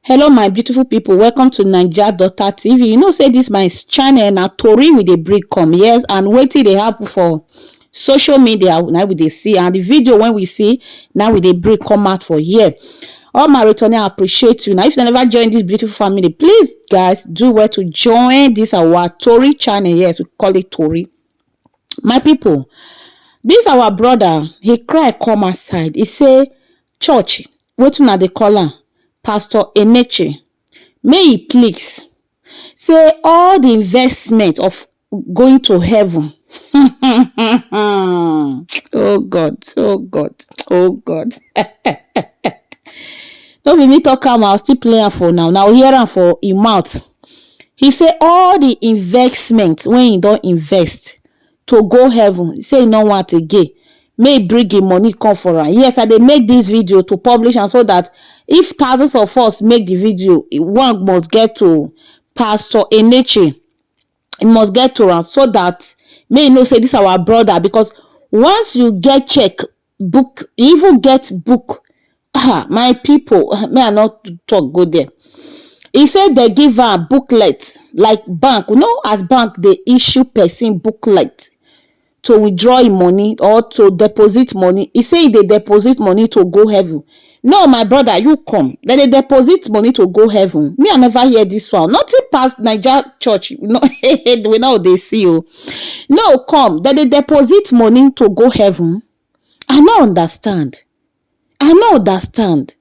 hello my beautiful people welcome to naija daughter tv you know say this my channel na tori we dey bring come yes and wetin dey happen for social media now we dey see and the video when we see now we dey bring come out for here all my returning i appreciate you now if you never join this beautiful family please guys do well to join this our tori channel yes we call it tori my people this our brother he cry come outside he say church wetin una dey call am pastor eneche make he please say all the investment of going to heaven oh god oh god oh god no be me talk am i still play am for una una go hear am for im mouth he say all the investment wey he don invest to go heaven he say he no want again make he bring him money come for am yes i dey make this video to publish am so that if thousands of us make the video one must get to pastor eneche he must get to am so that make he know say this our brother because once you get check book e even get book ah my people may i not talk go there He say they give am booklet like bank you know as bank they issue person booklet to withdraw him money or to deposit money He say he dey deposit money to go heaven No my brother you come dem dey deposit money to go heaven me I never hear this one nothing pass Naija church no we no dey see o no come dem dey deposit money to go heaven I no understand I no understand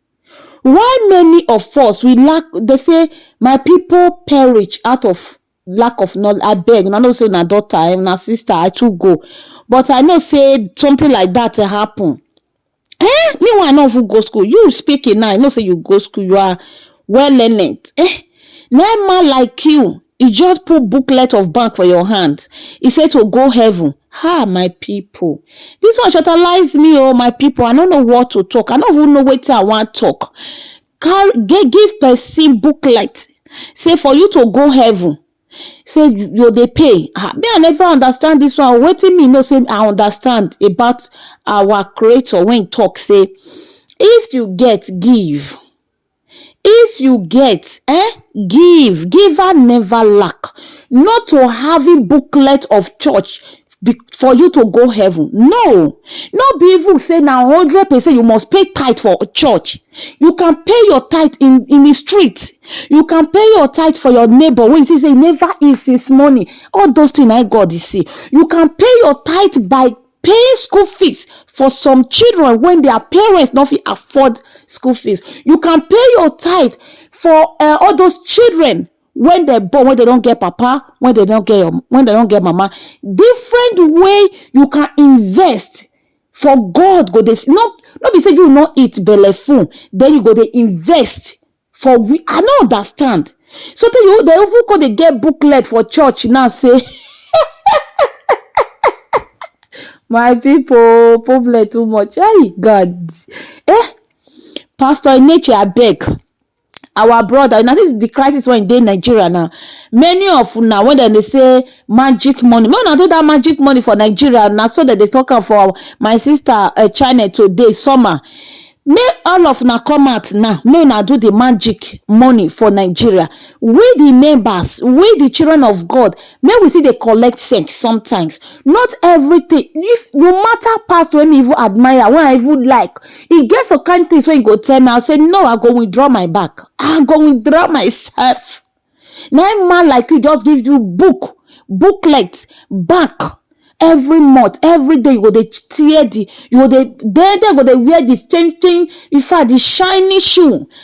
why many of us we lack they say my people perish out of lack of knowledge i beg una know say una daughter eh, una sister i too go but i know say something like that happen eh me one i no even go school you speaking now i know say you go school you are well learned eh no man like you he just put booklet of bank for your hand he say to go heaven ha ah, my people this one shutterlize me oh my people i no know what to talk i no even know wetin i wan talk give person booklet say for you to go heaven say you dey pay ah me I never understand this one wetin me know say I understand about our creator when talk say if you get give if you get eh give giver never lack not to having booklet of church be for you to go heaven no no be even say na hundred percent you must pay tithe for church you can pay your tithe in in the street you can pay your tithe for your neighbor wey you see say never eat since morning all those things na God dey see you can pay your tithe by paying school fees for some children when their parents no fit afford school fees you can pay your tithe for uh, all those children when dem born when dem don get papa when dem don get your when dem don get mama different way you can invest for God go dey no no be say you no eat belle full then you go dey invest for we I no understand so tey you dey even come dey get booklet for church now say my people problem too much hey God eh pastor Eneche abeg our brother una see the crisis wey dey Nigeria now many of una when dem dey say magic money make una do that magic money for Nigeria na so dem dey talk am for my sister uh, channel today summer make all of una come out now make una do the magic money for Nigeria we the members we the children of God make we still dey collect sex sometimes not everything if no matter past wey me even admire wey I even like e get some kind things wey you go tell me I say no I go withdraw my back I go withdraw myself na im man like you just give you book booklet back every month every day you go dey tear the you go dey then then you go dey wear the change change in fact the shiny shoe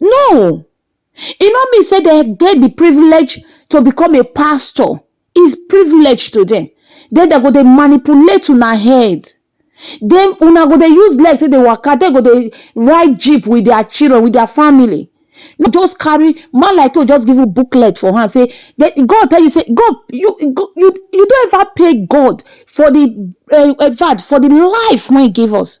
No, e no mean say they get the privilege to become a pastor. It's privilege to them. Then they go they manipulate una head. Then una go they use leg to the waka. They go they ride jeep with their children, with their family. No, just carry man like you. Just give you booklet for her. Say that God tell you say God you you you don't ever pay God for the uh, for the life man gave us.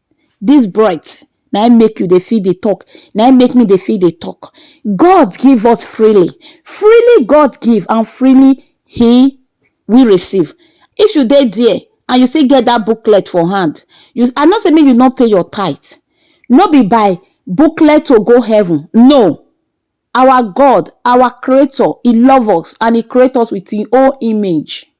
This breath na im make you dey fit dey talk, na im make me dey fit dey talk. God give us freely, freely God give and freely he we receive. If you dey there and you still get that booklet for hand, you I no say make you no pay your tithe, no be by booklet to go heaven, no. Our God, our creator, he love us and he create us with him own image.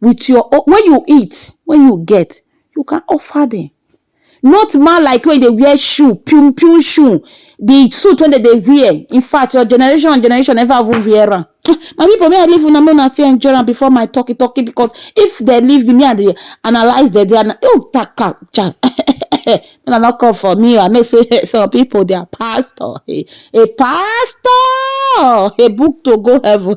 with your own when you eat when you get you can offer them not man like when they wear shoe pum pum shoe the suit when they dey wear in fact your generation and generation never even wear am my people may I leave una make una still enjoy am before my talky talky because if they leave me me I dey analyse them dey ana oh taka cha make una no come for me o I know say some people they are pastor a a pastor a book to go heaven.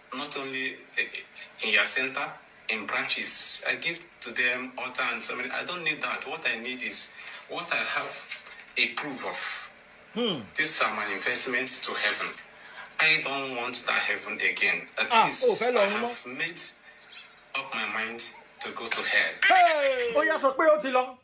Not only in ya center, in branches, I give to them altar and so many, I don't need that, what I need is what I have a proof of, these are my investments to heaven, I don't want that heaven again, at Ah, oh, least I fẹ́ lọ mọ́. have made up my mind to go to hell. ó yá sọ pé ó ti lọ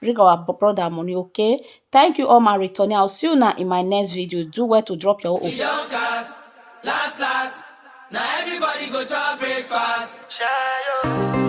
bring our brother money okay thank you all my returning i'll see you now in my next video do well to drop your own We don cast, last last. Now everybody go chop breakfast. Shayo.